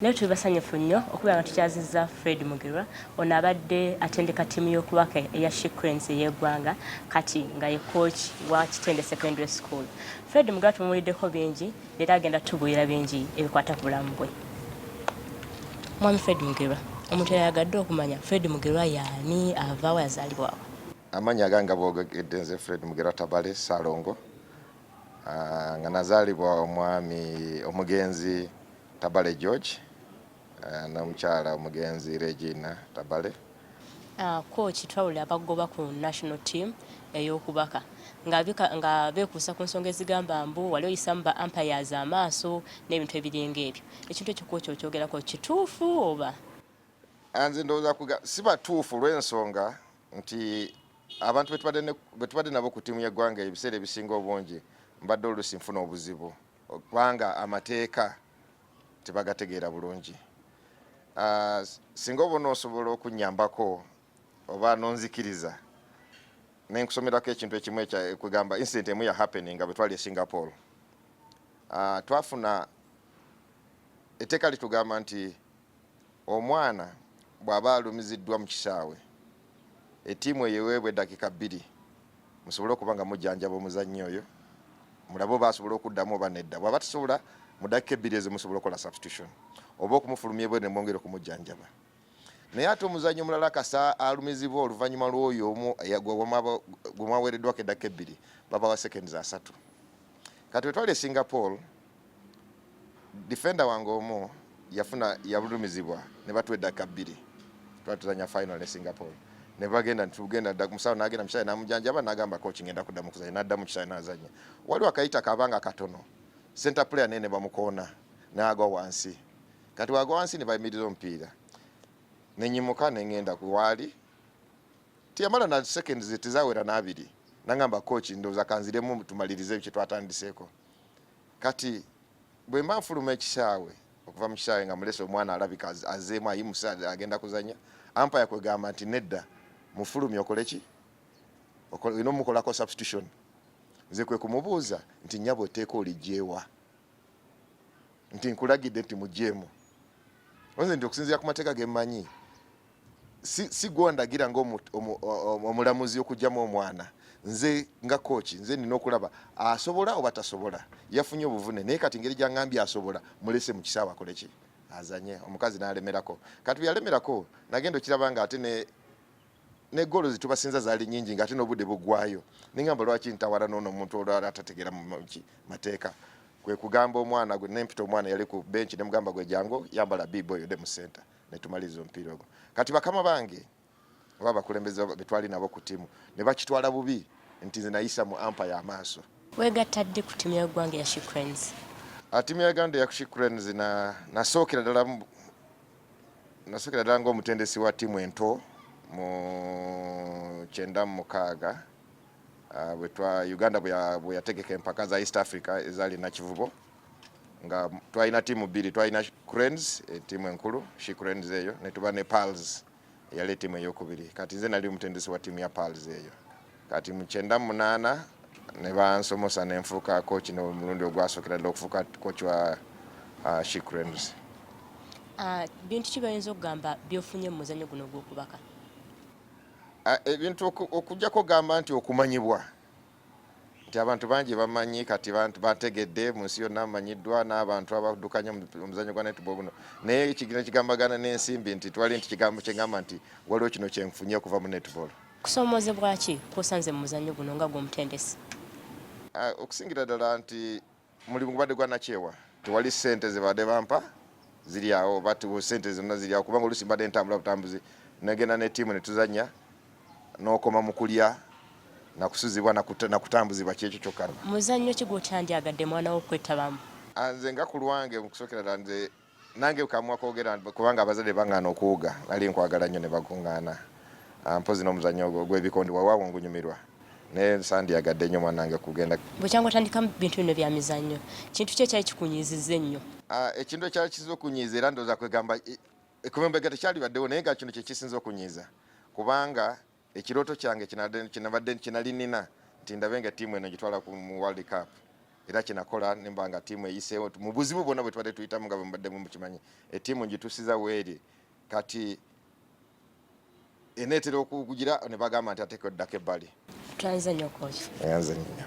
Naye tuli basanyufu nnyo okubeera nga tukyazizza Fred Mugirwa. Ono abadde atendeka ttiimu y'okubaka eya She Cranes ey'eggwanga kati nga ye kooci wa Kitende Secondary School. Fred Mugirwa tumuwuliddeko bingi leero agenda tubuulira bingi ebikwata ku bulamu bwe. Mwami Fred Mugirwa, omuntu eyayagadde okumanya Fred Mugirwa yaani, avaawa, yazaalibwawa? Amannya agange nga bwogedde nze Fred Mugirwa Tabale Salongo ah, nga nazaalibwa omwami omugenzi Tabale George eh, n'omukyala omugenzi Regina Tabale. Ah, Kooki twawulira abagoba ku national team ey'okubaka nga beekuusa ku nsonga ezigamba mbu wali oyisamu ba ampires amaaso n'ebintu ebiringa ebyo ekintu ekyo kooki okyogerako kituufu oba anze ndowooza kuga si batuufu lw'ensonga nti abantu betubadde nabo ku ttiimu y'eggwanga ebiseera ebisinga obungi mbadde oluusi nfuna obuzibu Kubanga amateeka tebagategeera bulungi. Ah, singa oba onoosobola okunnyambako oba nonzikiriza nenkusomerako ekintu ekimu ekyekugamba incident emu ya happening nga bwe twali e Singapore. Ah, twafuna etteeka litugamba nti Omwana bw'aba alumiziddwa mu kisaawe, ettiimu eyo eweebwa eddakiika bbiri musobole okuba nga mujjanjaba omuzannyi oyo mulabe oba asobola okuddamu oba nedda. Bw'aba tasobola mu ddakiika ebbiri ezo musobola okukola substitution oba okumufulumya ebweru ne mwongera okumujjanjaba. Naye ate omuzannyi omulala kasa alumizibwa oluvannyuma lw'oyo omu gwe mwaweereddwako eddakiika ebbiri babawa seconds asatu. Kati wetwali e Singapore defender wange omu yafuna yabulumizibwa ne batwedda kabbiri twali tuzanya final ne Singapore ne bagenda tugenda dda musawo nagenda mukisawe namujanjaba nagamba coach ngenda kudda mu kuzanya nadda mu kisawe nazanya waliwo akayita kabanga katono center player nene bamukoona naagwa wansi kati wagwa wansi ne bayimirira omupiira nenyimuka nengenda kuwaali tiyamala na seconds tizawera n'abiri nangamba coach ndoza kanziremu tumalirize kye twatandiseeko kati bwe mba nfuluma ekisaawe okuva mu kisaawe nga mulese omwana alabika azeemu ayimuse agenda kuzanya ampaya kwegamba nti nedda mufulumi okole ki olina omukolako substitution nze kwe kumubuuza nti nyabo etteeka oligyewa nti nkulagidde nti mugyemu oze nti okusinzira ku mateeka gemmanyi si, si gwandagira nga omulamuzi okugyamu omwana nze nga kooki nze nina okulaba asobola oba tasobola yafunye obuvune naye kati ngeri gyangambye asobola mulese mu kisaawe akoleki azanye omukazi nalemerako kati yalemerako nagenda okiraba nga ate ne ne golo zitubasinza zali nyingi nga ate n'obudde bugwayo ningamba lwaki ntawala noono omuntu olwala atategeera muki mateeka kwe kugamba omwana gwe nempita omwana yali ku benki nemugamba gwe jangu yambala biibo oyo de mu center netumaliriza omupiira ogwo kati bakama bange oba abakulembeze betwali nabo ku tiimu ne bakitwala bubi nti nze nayisa mu ampa ya maaso wegatta ddi ku tiimu ya ggwanga ya shicrens ah, tiimu ya uganda ya shicrens nasookera ddala nasookera ddala ngaomutendesi wa tiimu ento mu kyenda mu mukaaga Ah, bwetwa Uganda bwe yategeka empaka za East Africa ezaali nakivubo nga twalina tiimu bbiri twalina Cranes eh, tiimu enkulu She Cranes eyo ne tuba ne Pearls eyali tiimu eyokubiri kati nze nali omutendesi wa tiimu ya Pearls eyo kati mu kyenda mu munaana ne bansomosa ne nfuuka kooki n'omulundi ogwasookera ddala okufuuka kooki wa ah, She Cranes. Ah, bintu ki by'oyinza okugamba by'ofunye mu muzannyo guno ogw'okubaka? Ah, ebintu okujjako ogamba nti okumanyibwa nti abantu bangi bamanyi kati bantu bategedde mu nsi yonna amanyiddwa n'abantu abaddukanya omuzanyo gwa netball guno naye kigina kigambagana n'ensimbi nti twali nti kigambo kyengamba nti waliwo kino kyenfunye okuva mu netball kusoomoozebwa ki kwosanze mu muzanyo guno nga gw'omutendesi ah, okusingira ddala nti Omulimu gubadde gwa nakyewa, tewali ssente zebadde bampa ziri awo bati ssente zonna ziri awo kubanga oluusi mbadde ntambula butambuzi negenda ne tiimu netuzanya n'okoma mu kulya nakusuzibwa nakutambuzibwa kyekyo kyokka. Muzannyo ki gwotandyagadde mwana wo okwetabamu? Nze nga ku lwange mukusookera ddala nze nange kamwa kogera kubanga abazadde bangana okuwuga nali nkwagala nnyo ne bagungana ah, mpozi n'omuzannyo ogwo gw'ebikondi wawaawo ngunyumirwa naye sandyagadde nnyo mwanange kugenda bwekyanga otandika bintu bino bya mizannyo kintu ki ekyali kikunyiiziza ennyo ah, ekintu ekyali kisinza okunyiiza era ndowooza kwegamba e, e, kubembega tekyalibaddewo naye nga kino kye kisinza okunyiiza kubanga ekirooto kyange kinabadde kinali nina nti ndabe nga tiimu eno gitwala ku mu world cup era kinakola nemba nga tiimu eyiseewo mu buzibu bwonna bwe tubadde tuyitamu nga bwemubaddemu mukimanyi etiimu ngitusiza weeri kati eneetera okugira ne bagamba nti ateeka oddako ebbali twanze nyo koki nze nyo